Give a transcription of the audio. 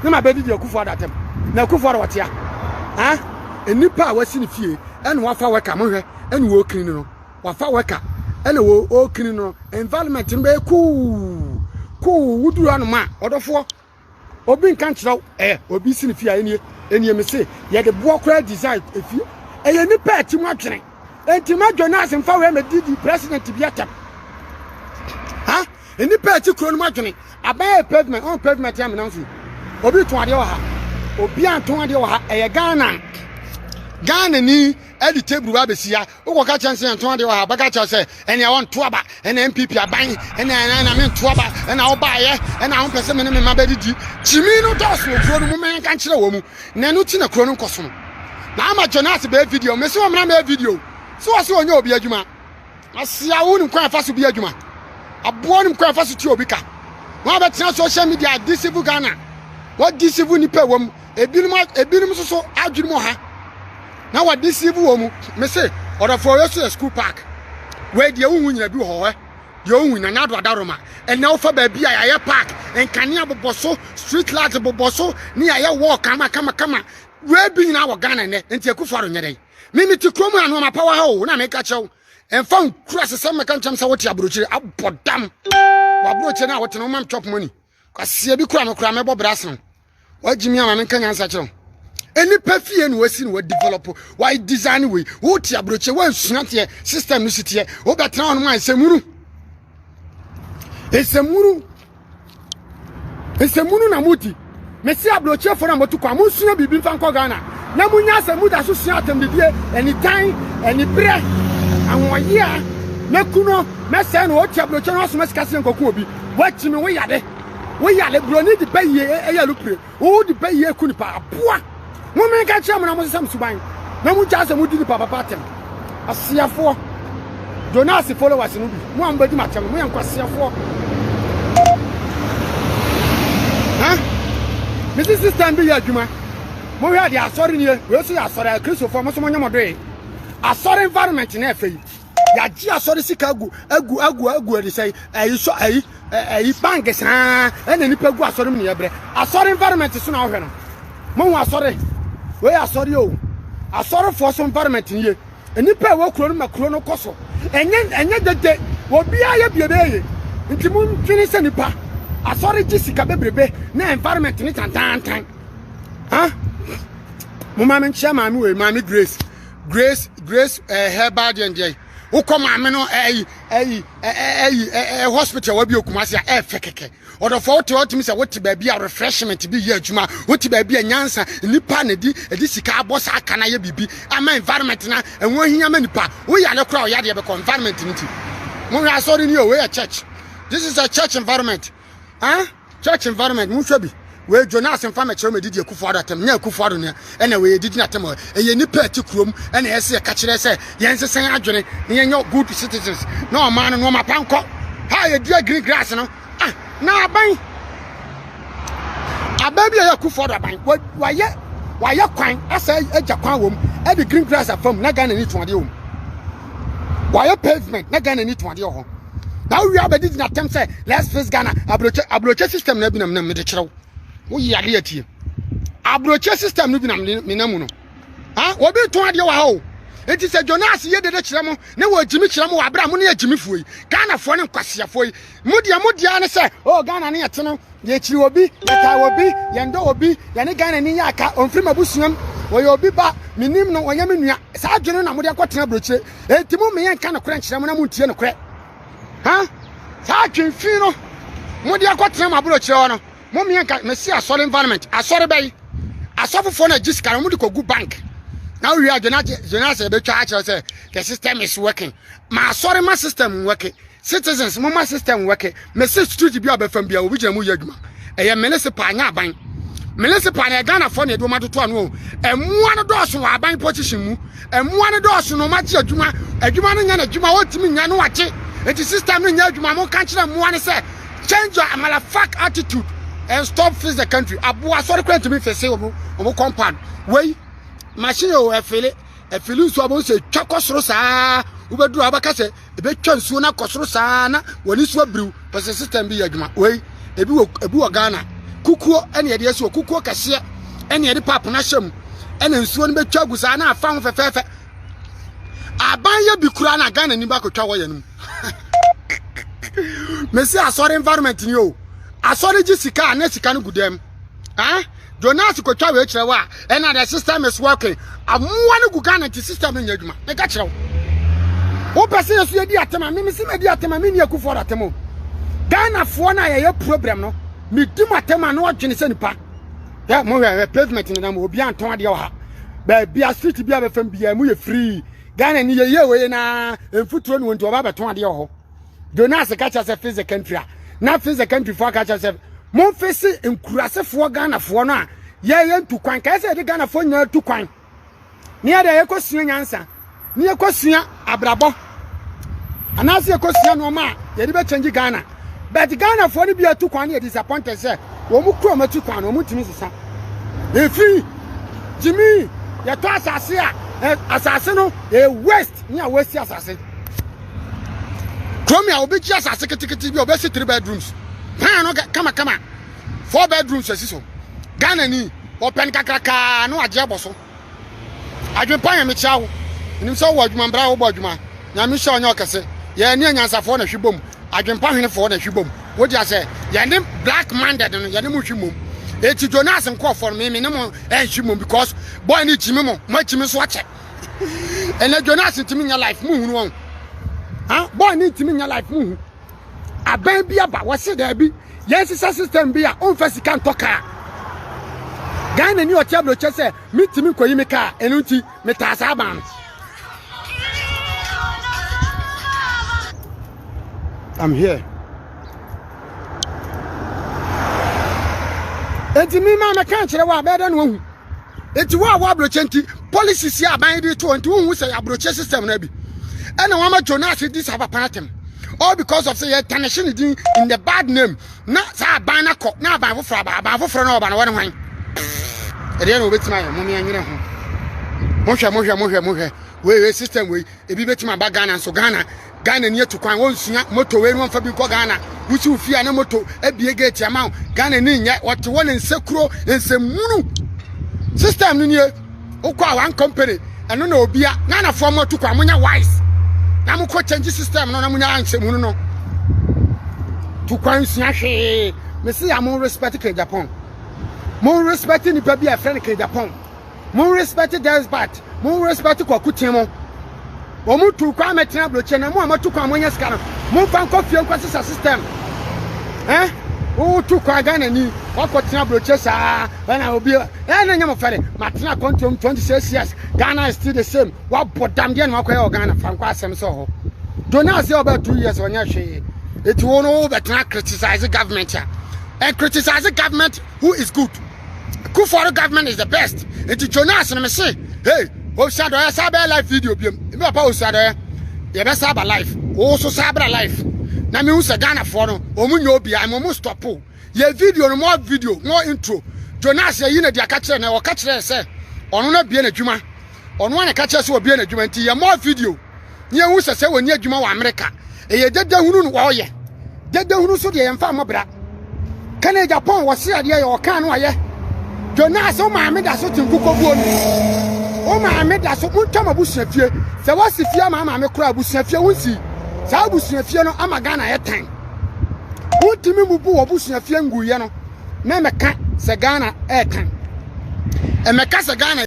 ne ma bɛdidi akufo ada atɛm na akufo ada wɔtea ha nnipa a wasi ne fie ɛna wafa wɛka mo hwɛ ɛna wɔkiri no wafa wɛka ɛna wɔkiri no environment no bɛyɛ kuu kuu woduru anoma ɔdɔfoɔ Obi nka nkyerɛ wo eh, obi si ne fie a ɛnie ɛnie me se yɛde boɔ koraa design efie ɛyɛ nipa ɛti mu adwene enti ma dwene ase mfa wei mɛdi di president bi atɛm ha nipa ɛti kuro no mu adwene aban yɛ pavement ɔn pavement yɛ menam so obi tɔn adeɛ wɔ ha obi antɔn adeɛ wɔ ha ɛyɛ Ghana Ghana ni ɛde table ba bɛsi ha Wokɔka kyerɛ no sɛ yɛntɔn adeɛ wɔ ha, bɛka kyerɛ sɛ ɛnea wɔnto aba, ɛna NPP aban, ɛna ɛna ɛna mento aba, ɛna wobaeɛ, ɛna wompɛ sɛ me ne me mma bɛdidi. Gyimi no dɔɔso wɔ kuro no mu, mɛyɛnka nkyerɛ wɔ mu. Na ɛno ti na kuro no nkɔso no. Na ama Jonas bɛyɛ video, mese wɔ mmra mɛyɛ video. Sɛ wɔ se wɔnyɛ obi adwuma. Asia wo nim kwan afa so bi adwuma. Aboɔ nim kwan afa so ti obi ka. Wɔn a bɛtena social media, deceive Ghana. What deceive nipa wɔ mu. ebinom ebinom nso so adwene mu ha na wɔde siivu wɔ mu mese ɔdɔfoɔ yɛ so yɛ school park wei deɛ wohu nyina bi wɔ hɔ ɛ deɛ wohu nyina na ado adaroma ɛnna wofa baabi a yɛayɛ park nkanea bobɔ so street light bobɔ so ne yɛayɛ wall kama kama kama wei bi nyina wɔ ghana nnɛ nti akufo ado nyɛ dɛn me mete kurom a no amapawa ha o na meka kyɛw ɛmfa nkura sesɛm mɛka nkyɛm sɛ wote aburokyire abɔ dam wɔ aburokyire no a wote no womam chop money Kwasia bi kura me kura mɛbɔ bra sen wo. Wagye me ama menka nyansa kyerɛ wo. Nnipa fie na wasi na wadevelop why design wei wote aburokye wansua teɛ system no si teɛ wobɛtena hɔ no ma nsɛmunu nsɛmunu nsɛmunu na modi mesi aburokyefoɔ na motu kwan monsua biribi mfa nkɔ ghana na monya sɛ moda so sua atɛmdidie anitan aniberɛ ahoɔyea mɛku no mɛsɛe no ɔte aburokye no asoma sika sɛ nkɔku obi Wakyimi wo yare wo yare buroni de ba yie ɛyɛ alupire wo de ba yie ku nipa aboa mo mi ka kyerɛ mo na mo sesam suban na mo gya sɛ mo di nipa papa atɛm aseafoɔ Jonas followers no bi mo a mo bɛ di mo atɛm no mo yɛ nkwaseafoɔ ha me si system bi yɛ adwuma mo hwɛ de asɔre nie wei so yɛ asɔre a kristofoɔ mo so mo nyɛ mo doe asɔre environment na ɛfɛ yi yɛagye asɔre sika agu agu agu agu ɛde sɛ ɛyi sɔ ɛyi ɛyi bank saa ɛna nipa gu asɔre mu ne yɛbrɛ asɔre environment so na ɔhwɛ no mo ho asɔre wei asɔre o asɔrefoɔ so environment nie nipa a ɛwɔ kuro no ma kuro no kɔ so ɛnyɛ ɛnyɛ dede obiara yɛ bie bɛyɛ yie nti mo ntwene sɛ nipa asɔre gye sika bebrebe na environment ne tantantan ha mo maame nkyia maame wei maame grace grace grace ɛɛ eh, herbal deɛ deɛ yi wokɔ maame no ɛyi ɛyi ɛyi ɛɛ hospital wa bi okuma se a ɛɛfɛ kɛkɛ ɔdɔfo wote ɔtumi sɛ wote baabi a refreshment bi yɛ adwuma wote baabi a nyansa nipa na di ɛdi sika abɔ saa aka na yɛ biribi ama environment na ɛho hia ma nipa woyɛ ne kora ɔyɛ adeɛ bɛkɔ environment no ti mo hwɛ asɔre ni o wei yɛ church this is a church environment ah. Huh? Church environment mo nhwɛ bi wei Jonas nfa mɛkyerɛ mo edidi akufo ado atam nyɛ akufo ado nea ɛna wei edidi na atam ɛyɛ nipa ɛte kurom ɛna ɛyɛ sɛ yɛka kyerɛ sɛ yɛn sesɛn adwene na yɛnyɛ good citizens na ɔman no nneɛma pa nkɔ ha yɛdua green grass no ah na aban aban bi a ɛyɛ akufo ado aban wayɛ wayɛ kwan asɛ agya kwan wɔm ɛde green grass afam na Ghana ni tuadeɛ wɔm wɔayɛ pavement na ghana ni tuadeɛ wɔ hɔ na wowie abɛde gyina tɛm sɛ let's face ghana aburokyɛ aburokyɛ system na ebinam nam mede kyerɛw woyi adeɛ atie aburokyɛ system no binam menam mu no ha obi tɔn adeɛ wɔ ha o eti sɛ jonas yɛ dede kyerɛ mo ne wɔ gyimi kyerɛ mo wɔ abira mo ne yɛ gyimifoɔ yi ghanafoɔ ne nkwasiafoɔ yi mo deɛ mo deɛ ne sɛ oh ghana ne yɛte no yɛkyiri obi yɛtaa obi yɛndɔ obi yɛne ghana ni yɛ aka ɔmfiri m'abusuam ɔyɛ obi ba menim no ɔnyɛ me nua saa adwene no na mode akɔtena aburokyire enti mo meyɛ nka nokorɛ nkyerɛ mo na montie nokorɛ ha saa adwene fi no mode akɔtena mo aburokyire hɔ no mo meyɛ nka mesi asɔre environment asɔre bɛyi asɔfofoɔ no agye sika no mode kɔgu bank na wowie adwene agye dwene asɛ ɛbɛtwa akyerɛ sɛ the system is working ma asɔre ma system working Citizens mo ma system work me se street bi a bɛfam bia obi gyina mu yɛ adwuma ɛyɛ municipal nya aban municipal na Ghana fo na ɛde wɔn atoto ano ɛmoa no dɔɔso wɔ aban position mu ɛmoa no dɔɔso na wɔn agye adwuma adwuma no nya na adwuma wɔntumi nya no agye eti system no nya adwuma mo nka kyerɛ mmoa no sɛ change your malafak attitude and stop face the country aboa sɔre kura ntumi fese wɔn wɔn compound wei machine o ɛfele ɛfele nso abɔn sɛ twa kɔ soro saa wobɛduru abɛka sɛ ɛbɛtwa nsuo no akɔ soro saa na wɔn ani so abiriw pɛ sɛ sitan bi yɛ adwuma wei ebi wɔ ebi wɔ ghana kukuo ɛna yɛde asi wɔ kukuo kɛseɛ ɛna yɛde paap no ahyɛ mu ɛna nsuo no bɛtwa agu saa na afa ho fɛfɛɛfɛ aban yɛ bi kura na ghana ni baako twa wɔyɛ no mu mesi asɔre environment ni o asɔre gye sika a na sika no gu dɛm. ah jonas kɔtwa wei kyerɛ wo a ɛna the system is working amoa no gu ghana nti system no nyɛ adwuma meka kyerɛ wo wopɛ sɛ yɛso yɛdi atɛm a memese madi atɛm a menni akufoɔ atɛm o ghanafoɔ no a yɛyɛ problem no medi mu atɛm a na ɔdwene sɛ nipa yɛ mohwɛ pavement no nam obi antɔn adeɛ wɔ ha baabi a street bi a bɛfam biaa mu yɛ free ghana ni yɛyɛ wei na mfuturo ne wɔnti ɔba bɛtɔn adeɛ wɔ hɔ jonas ka kyerɛ sɛ fis the country a na fis the country foɔ ka kyerɛ sɛ momfe se nkurasefoɔ ghanafoɔ no a yɛyɛ ntu kwan kae sɛ yɛde ghanafoɔ nyinaa tu kwan ne yɛde a yɛkɔsua nyansa ne yɛkɔsua abrabɔ anaasɛ yɛkɔsua nnoɔma a yɛde bɛkyɛngye ghana but ghanafoɔ no bi atu kwan ne yɛ disappointed sɛ wɔn mu kura wɔn akyi kwan no wɔn ntumi sesa efi gyimi yɛtɔ asase a asase no yɛ waste ne a wɔasi asase kurom a obi gye asase ketekete bi a ɔbɛsi three bedrooms pan no kamakama four bedrooms asi so ghana ni ɔpɛn kakrakaa na wagye abɔ so adwempa yɛ mekyia wo nim sɛ wowɔ adwuma mbra wobɔ adwuma nyame hyɛ ɔnyɛ ɔkɛse yɛn ne anyansafoɔ na hwe bom adwempa hwenefoɔ na hwe bom wogye asɛ yɛne black minded no yɛne mo hwe mmom eti jonas nkurɔfoɔ no meme ne mo ɛnhwe mmom because boy ne gyimi mo moagyimi so akyɛ ɛnɛ jonas ntumi nya life mu hunu wɔn ha bɔɔl ne ntumi nya life mu hu abɛn bi aba wɔsi daabi yɛn sisa system bi a ɔnfɛ sika ntɔ kaa ghana ni ɔte aburokyɛ sɛ metumi nkɔyi me kaa ɛno nti metaa saa ban no I'm here. Enti mi ma me kan kyerɛ wa bɛɛ dɛ no ahu. nti wo a wo aburokyɛ nti policies yɛ aban de to nti wohu sɛ aburokyɛ system na bi ɛna wɔn ama jonas di saa papa atɛm all because of sɛ yɛ tanahye ne din in the bad name na saa aban na kɔ na aban foforɔ aba aban foforɔ na ɔba na wɔne hwan ɛdeɛ na wɔbɛtumi ayɛ mo ne ɛnyere ho mohwɛ mohwɛ mohwɛ mohwɛ wei wei system wei ebi betumi aba ghana nso ghana ghana ni atu kwan wɔnsua moto wei no wɔmfa bi nkɔ ghana wosi wo fie a na moto abie gate ama wo ghana ni nyɛ wɔte wɔ ne nsekuro nsɛmunu system no nie wokɔ a one company ɛno na obia ghanafoɔ mo atu kwan monyɛ wise na mokɔ change system no na monya nsɛmunu no tu kwan nsua hwee mese a mo respect ka japan mo respect nipa bi a ɛfrɛ no ka japan Mo respect girls but mo respect kwaku kyen mo. Wɔn tu kwan mɛtena aburokyɛ na mo a motu kwan mo nyɛ sika no mo nfa nkɔ fie nkɔ sisa system. Eh? Wo tu kwan Ghana ni wakɔ tena aburokyɛ saa ɛna obi eh na nyɛ mo fɛre matena kɔntom 26 years Ghana is still the same wabɔ dam deɛ na wakɔyɛ wɔ Ghana fa nkɔ asɛm sɛ ɔhɔ Jonas yɛ ɔbɛ 2 years ɔnyɛ hwee eti wo no wo bɛtena criticize government a and criticize government who is good Kufɔr government is the best. Nti Jonas no me se, hey, Ofisa Dɔyɛ saa bɛyɛ live video biam. Me papa Ofisa Dɔyɛ, yɛbɛ saa ba live. Wo so saa bra live. Na me hu sɛ Ghanafoɔ no, wɔn nyɛ obi a, ɛma wɔn stop o. Yɛ video no, more video, more intro. Jonas yɛyi na di aka kyerɛ na ɔka kyerɛ sɛ ɔno na bie na adwuma. Ɔno na ka kyerɛ sɛ ɔbie na adwuma nti yɛ more video. ne ɛho sɛ sɛ wɔni adwuma wɔ amerika ɛyɛ dadahunu no wɔyɛ dadahunu so deɛ yɛmfa mmɔ bra ka ne japan wɔse adeɛ yɛ ɔka no ayɛ jonas wo maame da so te nkokɔbuo no wo maame da so montwam abusua fie sɛ woasi fie ama maame kora abusua fie wonsii saa abusua fie no ama ghana yɛ tan wontumi mu bu wɔbusua fie nguyɛ no na mɛka sɛ ghana ɛɛtan ɛmɛka sɛ ghana